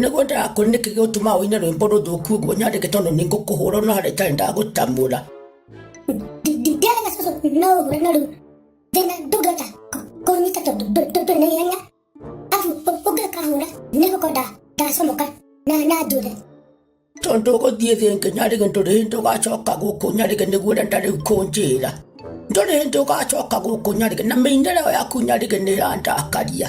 nĩguo ndakũrĩ nĩkĩ gĩgũtuma ũine rwĩmbo rũthũku ũguo nyandĩke tondũ nĩ ngũkũhũra no harĩa itarĩ ndagũtamũra ndĩarega cũcũ no ũhũre no rĩu thĩna ndũngĩhota kũnyita tondũ ndũrĩ na ihenya abu ũngĩkahũra nĩ gũkorwo ndacomoka na na njũre tondũ ũgũthiĩ thĩ ĩngĩ nyarĩge ndũrĩ hĩndĩ ũgacoka gũkũ nyarĩge nĩguo ũrenda rĩu kũnjĩra ndũrĩ hĩndĩ ũgacoka gũkũ nyarĩge na mĩinĩre ĩyo yaku nyarĩge nĩ ĩrandakaria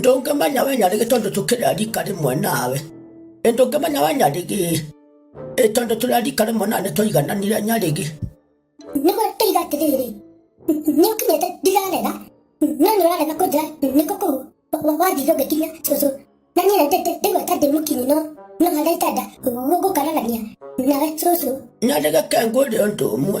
ndũngĩmenya wenya rĩgĩ tondũ tũkĩrĩa rika rĩmwe nawe ĩ ndũngĩmenya wenya rĩgĩ ĩ tondũ tũrĩa rika rĩmwe nawe nĩ tũigananire nyarĩgĩ nĩguo tũiga atĩrĩrĩ nĩ ũkinyĩte ndirarega no nĩ ũrarega kũnjĩra nĩkũ kũu wathiire ũgĩkinya cũcũ na niĩ na ndĩte ndĩgweta ndĩ mũkinyi no no harĩa itanda gũkaragania nawe cũcũ nyarĩgĩ kengwĩre ũndũ ũmwe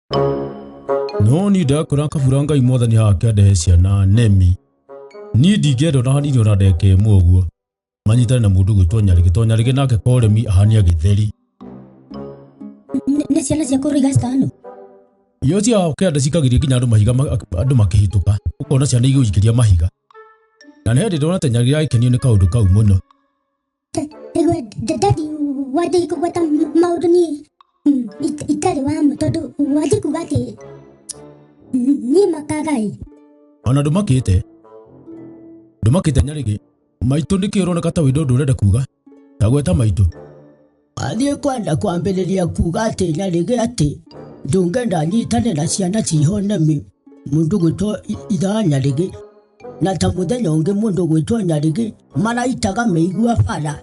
no ni ndakora kabura ngai mwathani haha akĩandehe ciana nemi niĩ ndingĩenda ona hanini ona ndeka ĩmwe ũguo manyitane na mũndũ gwĩtwo nyarĩgĩ to nyarĩgĩ nake koremi ahania gĩtheri Nĩ- nĩ ciana cia kũrũiga citano iyo cia kĩanda cikagĩria nginya andũ mahiga ma- andũ makĩhĩtũka ũkona ciana igũikĩria mahiga na nĩ hĩndĩ ndona ta nyarĩgĩ agĩkenio nĩ kaũndũ kau mũno Ĩgwe ndadi wathiĩ kũgweta maũndũ niĩ mm, it- itarĩ wa ma tondũ wathiĩ kuga atĩ mm, niĩ makagai ona ndũmakĩte ndũmakĩte nyarĩgĩ maitũ nĩkĩ ũroneka ta wĩndũ ũndũ ũrenda kuga ta gweta maitũ athiĩ kwenda kwambĩrĩria kuga atĩ nyarĩgĩ atĩ ndũngenda nyitane na ciana cihonemi mũndũ gwĩtwo ithaa nyarĩgĩ na ta mũthenya ũngĩ mũndũ gwĩtwo nyarĩgĩ maraitaga mĩigua bara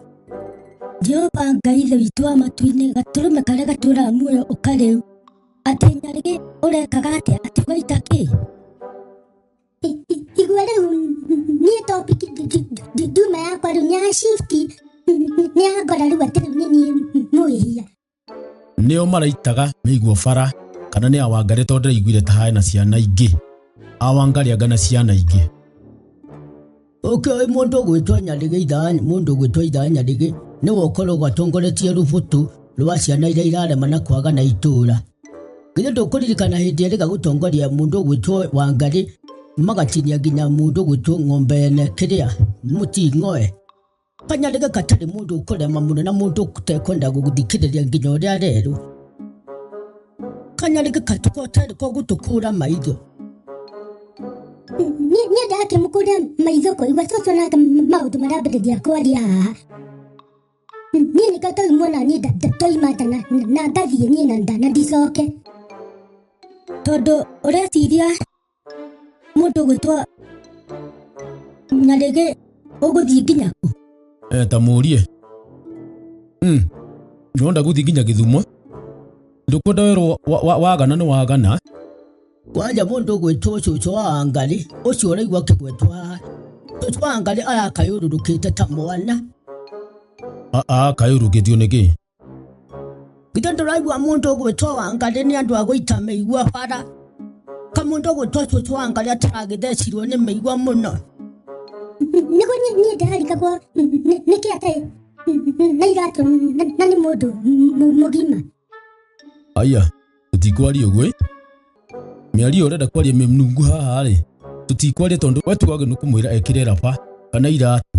jehova ngai ithe witũ wa matu-inĩ gatũrũme karĩa gatũraga muoyo ũkarĩu atĩ nyarĩgĩ ũrekaga atĩa atĩ ũgaita kĩ I- i- igua rĩu niĩ topic nduma yakwa rĩu nĩ ya shift nĩ ya ngora rĩu atĩ rĩu nĩ niĩ mũhia nĩo maraitaga mĩiguo bara kana nĩ awangari tondũ ndĩraiguire ta hae na ciana ingĩ awangari anga na ciana ingĩ Ũkĩ mũndũ ũgwĩtwo nyarĩgĩ ithaani mũndũ ũgwĩtwo ithaa nyarĩgĩ nĩwe ũkoragwo atongoretie rũbũtũ rwa ciana iria irarema na kwaga na itũũra githĩ ndũkũririkana hĩndĩ ĩrĩga gũtongoria mũndũ ũgwĩtwo wangarĩ magatinia nginya mũndũ ũgwĩtwo ng'ombe ene kĩrĩa mũting'oe kanyandĩke gatarĩ mũndũ ũkũrema mũno na mũndũ ũtekwenda gũgũthikĩrĩria nginya ũrĩa arerwo kanyandĩke katuko ũtarĩ ko gũtũkũra maitho Niĩ niĩ ndake mũkũrĩa maitho kũigua coco nake maũndũ marambĩrĩria kwaria haha niĩ nĩka toimwo na niĩ nda- nda- toima nda na- na ngathiĩ niĩ na nda na ndicoke tondũ ũreciria Mũndũ gwĩtwa Nyarĩgĩ ũgũthiĩ nginya kũ? Eh, ta mũrie mm. nĩwenda gũthiĩ nginya gĩthumo ndũkwenda werwo wa- wa- wagana nĩ wagana Kwanja mũndũ gwĩtwo cũcũ wa Wangarĩ ũcio ũraigua kĩgwetwo haha. Cũcũ wa Wangarĩ arakayũrũrũkĩte ta mwana. aa kayũrũkĩtio nĩkĩ ithe ndũraigua mũndũ ũgwĩtwo wangarĩ nĩ andũ a gũita mĩigua bara kamũndũ ũgwĩtwo cũcũ wangarĩ ataragĩthecirwo nĩ mĩigua mũno nĩguo niĩ ndararikagwo nĩkĩ atarĩ na iratũ na nĩ mũndũ mũgima aya tũtikwaria ũguo ĩ mĩario ũrenda kwaria mĩnungu haha rĩ tũtikwaria tondũ wetuagĩ nĩ kũmwĩra ekĩre raba kana iratũ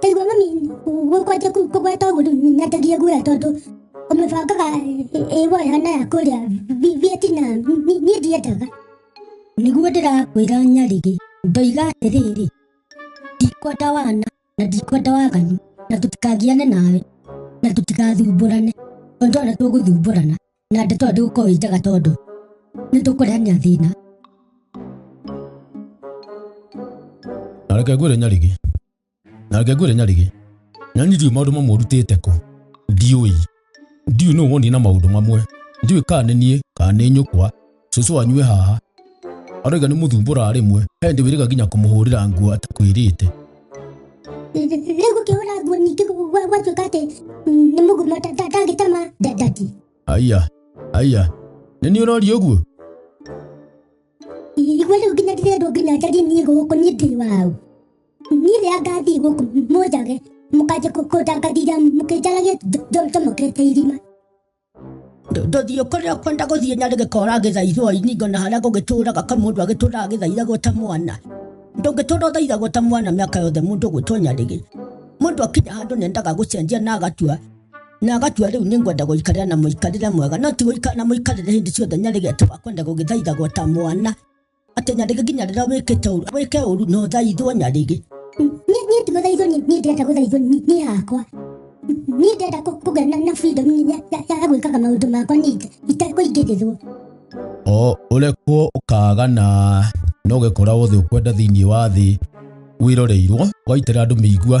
taigua mami gũkwanja kũgweta ũguo nyatagia guoya tondũ ũmĩbangaga ĩwoya na ya kũrĩa vietnam niĩ ndiendaga nĩguo ndĩrakwĩra nyarĩrĩ ndoiga atĩrĩrĩ ndikwenda wana na ndikwenda waganu na tũtikagiane nawe na tũtigathumbũrane tondũ ona tũgũthumbũrana na ndeto ĩyo ndĩgũkorwo ĩ njega tondũ nĩ tũkũrehania thĩna na reke ngwĩre nyarigĩ na reke ngwĩre nyarigĩ na niĩ ndiũĩ maũndũ mamwe ũrutĩte kũ ndiũĩ ndiũĩ nũ wonie na maũndũ mamwe ndiũĩ kana nĩ niĩ kana nĩ nyũkwa cũcũ wanyu e haha aroiga nĩ mũthumbũra rĩmwe he ndĩ wĩrĩga nginya kũmũhũrĩra nguo atakwĩrĩte rĩu gũkĩhũra nguo ningĩ gwa- gwatuĩka atĩ mm, nĩ mũgumo ta- ta- ndangĩtema nda- ndati aya aya nĩ niĩ ũroria ũguo igua rĩu nginya ndĩrendwo nginya njarie niĩ gũkũ niĩ ndĩ wau niĩ rĩa ngathiĩ gũkũ mũnjage mũkanjia kũndangathira mũkĩnjaragia njomokete irima ndũthiũ kũrĩa ũkwenda gũthiĩ na rĩgĩkora gĩthaithwo iningo na harĩa gũgĩtũraga ka mũndũ agĩtũraga gĩthaithagwo ta mwana ndũngĩtũra ũthaithagwo ta mwana mĩaka yothe mũndũ gwĩtwo nyarĩgĩ mũndũ akinya handũ nendaga gũcenjia na agatua na agatua rĩu nĩ ngwenda gũikarĩra na mũikarĩre mwega no ti gũikara na mũikarĩre hĩndĩ ciothe nyarĩgĩ atĩ wakwenda gũgĩthaithagwo ta mwana Atĩ nyandĩke nginya rĩrĩa wĩkĩte ũru. Wĩke ũru na ũthaithwo nyarĩgĩ. Niĩ niĩ ti mũthaithwo niĩ niĩ ndĩrenda gũthaithwo niĩ niĩ hakwa. Niĩ ndĩrenda kũ- kũgĩa na na freedom ya ya- ya gwĩkaga maũndũ makwa niĩ nja itekũingĩrĩrwo. o ũrekwo ũkagana no ũgekora wothe ũkwenda thĩinĩ wa thĩ wĩroreirwo waitĩra andũ mĩigua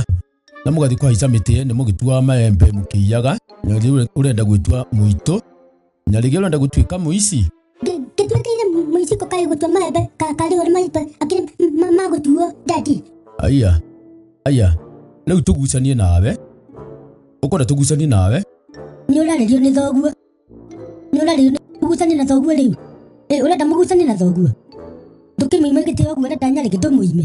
na mũgathiĩ kũhaica mĩtĩ nĩ mũgĩtuaga maembe mũkĩiyaga na rĩu ũrenda gwĩtua mũitũ na rĩngĩ ũrenda gũtuĩka mũici kĩtuĩkaire mũiciko kaĩ gũtua maembe karĩ ũrĩ maitũ akĩrĩ magũtuo dadi aya aya rĩu tũgucanie nawe ũkwenda tũgucanie nawe nĩ ũrarĩrio nĩ thoguo nĩ ũrarĩrio nĩ mũgucanie na thoguo rĩu Ĩ, ũrenda mũgucanie na thoguo ndũkĩmũime gĩtĩ ũguo ũrenda nyarĩke ndũmũime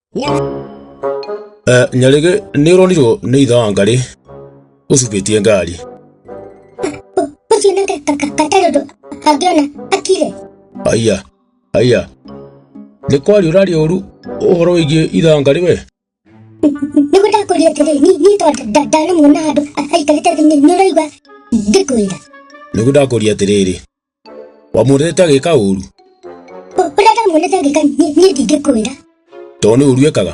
Eh, nyarĩgĩ nĩ ũronirwo nĩ itha wa ngarĩ ũcukĩtie ngari ũcio nĩ gatarĩ ũndũ angĩona akire aiya aiya nĩ kwaria ũraria ũru ũhoro wĩgiĩ itha wa ngarĩ we nĩguo ndakũria atĩrĩ ni- niĩ tondũ nda- ndanamuona handũ a- aikarĩte thĩ nĩ nĩ ũraigua ngĩkwĩra nĩguo ndakũria atĩrĩrĩ wamwonete agĩka ũru ũrĩa ndamuonete ngĩka niĩ niĩ ndingĩkwĩra tondũ nĩ ũru ekaga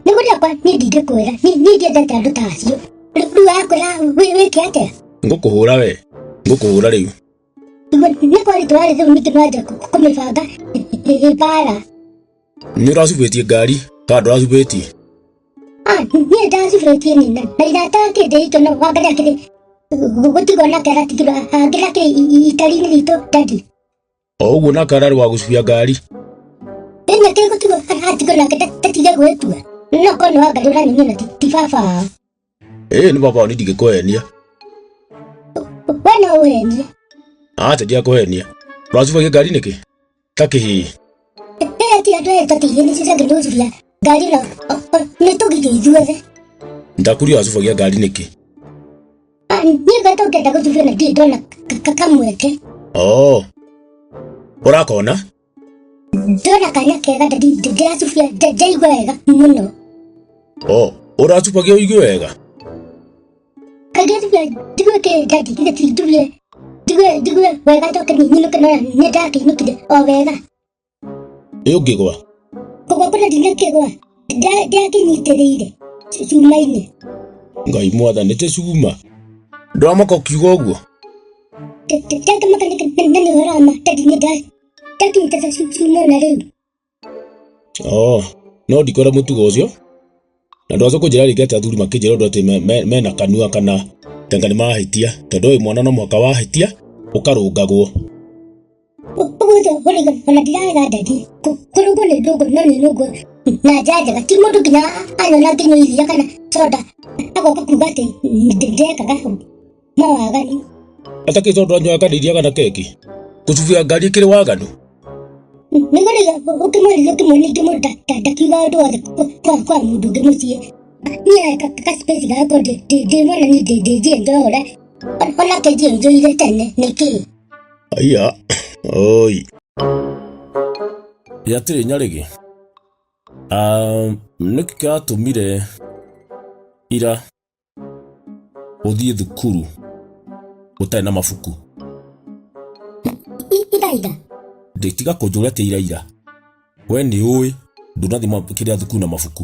nĩ gũrĩa kwa niĩ ndingĩkwĩra niĩ niĩ ndiendete andũ ta acio Rĩ- rĩu akwĩra wĩ- wĩke atĩa ngũkũhũra we ngũkũhũra rĩu Nĩguo- nĩ kwaritũ warĩ rĩu ningĩ no anja kũmĩbanga ĩ- ĩ- ĩ- mbara Nĩ ũracubĩtie ngari kana ndũracubĩtie? Ah, niĩ ndacubĩtie nyina. Na irata kĩndĩ itũ no wangaria kĩndĩ gũtigwo na kera tigirwo angĩra kĩrĩ itari-inĩ ritũ dadi. O ũguo na kararĩ wa gũcubia ngari. Ĩnyĩ kĩgũtigwo atigwo nake ndatige gwĩtua. No korwo nĩ wangaria ũranyumia na ti ti baba wao. ĩĩ nĩ baba wao nĩndingĩkũhenia we no wene aca ndiakũhenia ũracubagia ngari nĩkĩ ta kĩhĩĩ ĩyo ti andũ aya tatĩire nĩ citangĩtũnjuria ngari na nĩ tũgire ithuothe ndakuri ũracubagia ngari nĩkĩ niĩ ngata ũngĩenda gũthuria na ndirĩ ndona kamweke oo ũrakona ndona kanya kega ndĩracubia ndaigua wega mũno o ũracubagia ũigue wega kagĩcubia ndigue kĩ ndandi githĩ ti ndubie ndigue ndigue wega njoke nyinũke nona nĩ ndakĩinũkire o wega ĩ ũngĩgwa kũgwa kũna ndingĩkĩgwa ndĩakĩnyitĩrĩire cuma-inĩ ngai mwatha nä tä cuma ndwamaka å kiuga å guo ndakĩmaka na nĩ ũhoro wa ma tondũ nĩ nda ndakĩnyitĩrĩra cuma ona rĩu oo no ndikora må tugo å cio na ndwacoka å njä ra rä ngä atä athuri makä njä ra å ndå atä me- me- mena kanua kana tenga nä mahä tia tondå å yå mwana no mwaka wahä tia å karå ngagwo ũmũthĩ ũkũrĩga ona ndiraga ndadi kũrũgwo nĩ ndũgũ no nĩ nũgũ na njaa njega ti mũndũ nginya anyona nginya iria kana soda agoka kuga atĩ ndekaga mawagani atakĩ tondũ anywa kadiria kana keki gũcubia ngari kĩrĩ waganu nĩ mũrĩga ũkĩmwĩrĩga ũkĩmwona ingĩ mũndũ nda- nda- ndakiuga ũndũ wothe kwa- kwa kwa mũndũ ũngĩ mũciĩ niĩ ka- ka space gako ndĩ- ndĩ- ndĩmwona niĩ ndĩ- ndĩnjĩenjoyore onake njĩenjoire tene nĩkĩ Aiya, oi. Yatĩrĩ nyarĩgĩ. Um, nĩkĩ kĩratũmire ira ũthiĩ thukuru ũtarĩ na mabuku? Ira ira. Ndĩtiga kũnjũria atĩ ira ira. We nĩ ũĩ ndũnathi kĩrĩa thukuru na mabuku.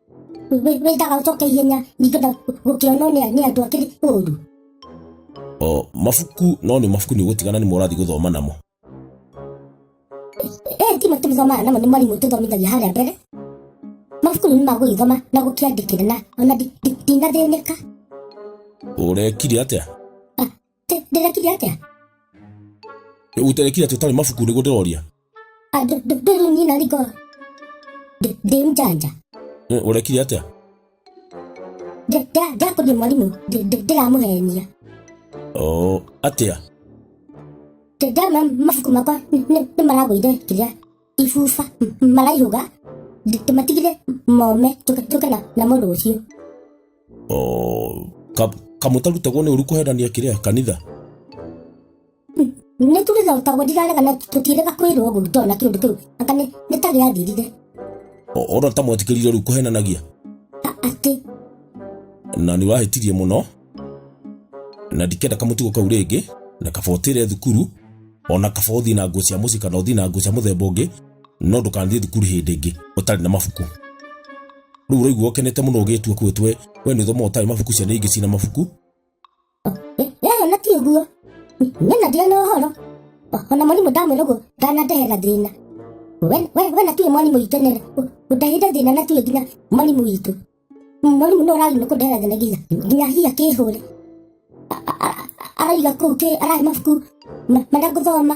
wĩtaga ũcoke ihenya ningĩ na gũkĩonwo nĩ nĩ andũ akĩrĩ ũru o mabuku no nĩ mabuku nĩ ũgũtigana nĩ morathi gũthoma namo ee ti mabuku tũthomaga namo nĩ mwarimũ tũthomithagia harĩa mbere mabuku nĩ magũgĩthoma na gũkĩandĩkĩra na ona ndi- ndi- ndinathĩnĩka ũrekire atĩa Ndĩ- ndĩrekire atĩa ũterekire atĩ ũtarĩ mabuku nĩguo ndĩroria Ah, ndĩ- ndĩ- ndĩ rĩu nyina riko Ndĩ- ndĩ mjanja Eh, ũrekire atĩa Ndĩ- ndĩ- ndĩrakũria mwarimũ Ndĩ- ndĩ- ndĩramũhenia Oh, atĩa Ndĩ- ndĩrona mabuku makwa nĩ- nĩ nĩ maragũire kĩrĩa ibuba m- maraihũga Ndĩ- ndĩmatigire mome njũke njũke na- namo rũciũ Oh, ka- kamũtarutagwo nĩ ũru kũhenania kĩrĩa kanitha nä tå rä thotagwo ndirarega na tå tiärega kwä rwo å guo tondå na kä å ndå kä u anga nä ta gä athirire O- ona ta mwetĩkĩrire rĩu kũhenanagia atä na nĩ wahĩtirie mũno na ndikenda kamũtugo kau rĩngĩ na kaba ũtĩre thukuru ona kaba ũthiĩ na nguo cia mũciĩ kana ũthiĩ na nguo cia mũthemba ũngĩ no ndũkanathiĩ thukuru hĩndĩ ĩngĩ ũtarĩ na mabuku rĩu ũraigua ũkenete mũno ũgĩtua kwĩtwe we nĩ ũthomaga ũtarĩ mabuku ciana ingĩ cina mabuku yaya na ti ũguo nyana ndĩrĩ na ũhoro ona mwarimũ ndamwĩra ũguo ndanandehera thĩna We- we we na tiwe mwarimũ witũ nene ũndehire thĩna na tiwe nginya mwarimũ witũ mwarimũ nĩ ũrarĩ nĩ kũndehera thĩna nginya nginya hiya kĩhũre araiga kũu kĩ arahe mabuku ma- marĩa ngũthoma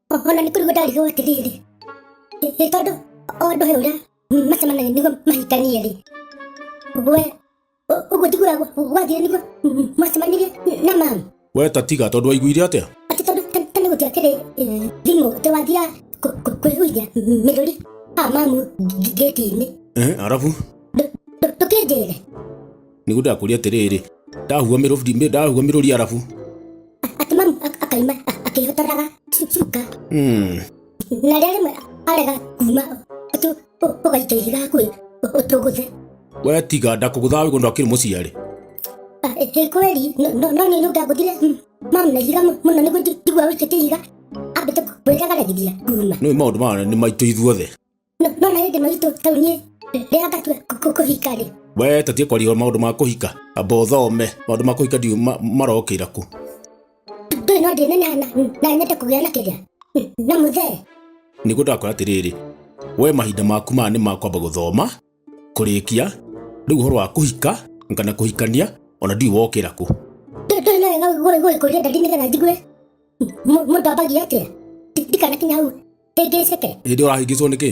ona nĩ kũrigwo ndarigwo atĩrĩrĩ ĩ tondũ o andũ he ũrĩa macemanagia nĩguo mahikanie rĩ we ũ- ũguo njiguaga gwa- gwathire nĩguo mwacemanirie na mamu we ta tiga tondũ waiguire atĩa atĩ tondũ ta- ta nĩ gũtira kĩrĩ eh, thimũ tĩ wathira kũ- kũ- kwĩhuithia mĩrũri a mamu ngĩti-inĩ Eh, arabu ndũkĩnjĩre nĩguo ndakũria atĩrĩrĩ ndahua mĩrũri ndahua mĩrũri arabu akimaru ak- akaima a- akĩhotoraga cu- cuka Hmm, na rĩrĩa rĩmwe arega kuma ũtũ- ũ- ũgaita ihiga hakuhĩ ũ- ũtũgũthe we tiga ndakũgũthaga wĩgũ ndakĩrĩ mũciarĩ Ah, eh, eh, kweli no- no no nĩ ndagũthire mamu na ihiga mũ- mũno nĩguo ndi- ndigua wĩkĩte ihiga ambĩte kwĩragaragithia kuma nĩũĩ maũndũ maya nĩ maitũ ithuothe No- no na hĩndĩ maitũ tau niĩ rĩrĩa ngatua kũ- kũ- kũhika rĩ we tatie kwaria maũndũ ma kũhika amba ũthome maũndũ ma kũhika ndiũ ma- marokĩra ku ndũĩ no ndĩneneha na- na nyende kũgĩa na kĩrĩa na mũthee nĩguo ndakwĩra atĩrĩrĩ we mahinda maku maya nĩ ma kwamba gũthoma kũrĩkia rĩu ũhoro wa kũhika kana kũhikania ona ndiũ wokĩra ku Ndũ- ndũĩ no wega gũgĩkũria ndari nĩgetha njigue mũ- mũndũ ambagia atĩa Ndi- ndikanakinya hau Ndĩngĩceke. Hĩndĩ ũrahĩngĩcwo nĩkĩ?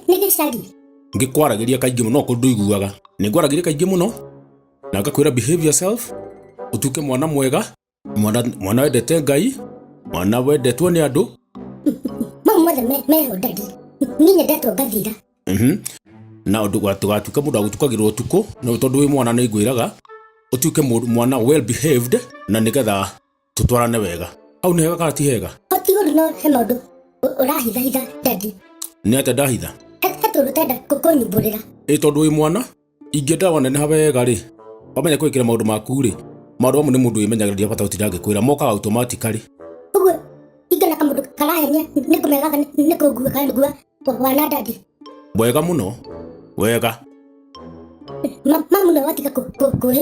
Nĩ gĩcagi. Ngĩkwaragĩria kaingĩ mũno kũndũ iguaga. Nĩ ngwaragĩria kaingĩ mũno na ngakwĩra behave yourself, ũtuĩke mwana mwega, mwana, mwana wendete Ngai, mwana wendetwo nĩ andũ. Mau mothe meho ndadi. Niĩ nyendetwo ngathira. Mhm. Na ũndũ gatuĩka mũndũ agũtukagĩrwo ũtukũ, tondũ wĩ mwana nĩ ngwĩraga ũtuĩke mwana well behaved na nĩgetha tũtwarane wega hau nĩ hega kana ti hega o ti ũndũ no he maũndũ ũ- ũrahithahitha dadi nĩ atĩa ndahitha he he tũndũ tenda kũnyumbũrĩra ĩ tondũ wĩ mwana ingĩenda waneneha wega rĩ wamenye kwĩkĩra maũndũ maku rĩ maũndũ mamwe nĩ mũndũ wĩmenyagĩrĩria bata gũtinda ngĩkwĩra mokaga automatically ũguo ingana kamũndũ karahenia nĩ kũmegaga nĩ kũngua kana nĩgua wana dadi wega mũno wega Ma- mamu nao watiga kũ- kũ- kũhĩ